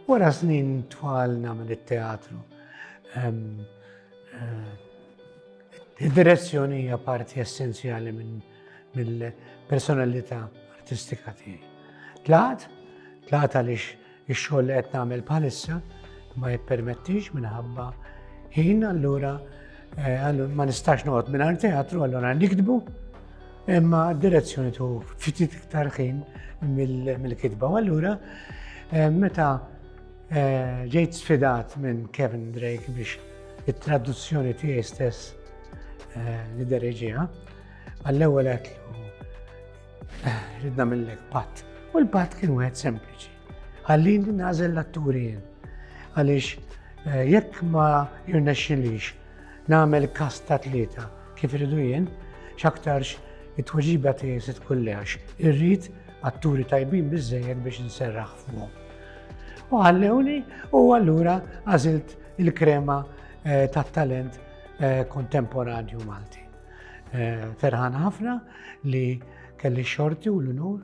Wara snin twal nagħmel it-teatru. Ehm, eh, id-direzzjoni hija parti essenzjali minn mill-personalità artistika tiegħi. Tlaqt, tlaqt għaliex ix-xogħol li qed nagħmel bħalissa ma jippermettix minħabba ħin allura Eh, ma nistax noqgħod mingħajr teatru, allora nikdbu, imma direzzjoni tu fitit iktar ħin mill-kitba. U allura eh, meta eh, ġejt sfidat minn Kevin Drake biex it-traduzzjoni tiegħi stess li dereġija, għall-ewwel qed ridna mill-lek pat. U l-pat kien wieħed sempliċi. Ħallini nażel l-atturi jien. Għaliex eh, jekk ma jirnexxilix nagħmel kas ta' tlieta kif irridu jien, x'aktarx it-tweġiba tiegħi se tkun leħx. Irrid atturi tajbin biżejjed biex nserraħ fuqhom. U ħallewni u allura għażilt il-krema eh, tat-talent eh, kontemporanju Malti. Ferħan ħafna li kelli xorti u l-unur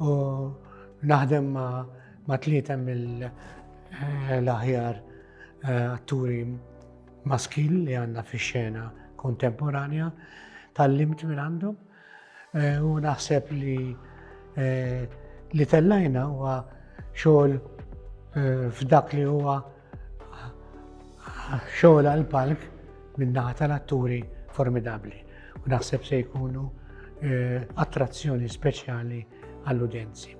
U naħdem ma' tlieta mill-aħjar eh, atturi maskil li għandna fix-xena kontemporanja tal-limt minn għandhom eh, u naħseb li eh, li tellajna huwa xogħol f'dak li huwa Xogħol għal-palk min-naħa tal-atturi formidabli u naħseb se jkunu eh, attrazzjoni speċjali għall-udjenzi.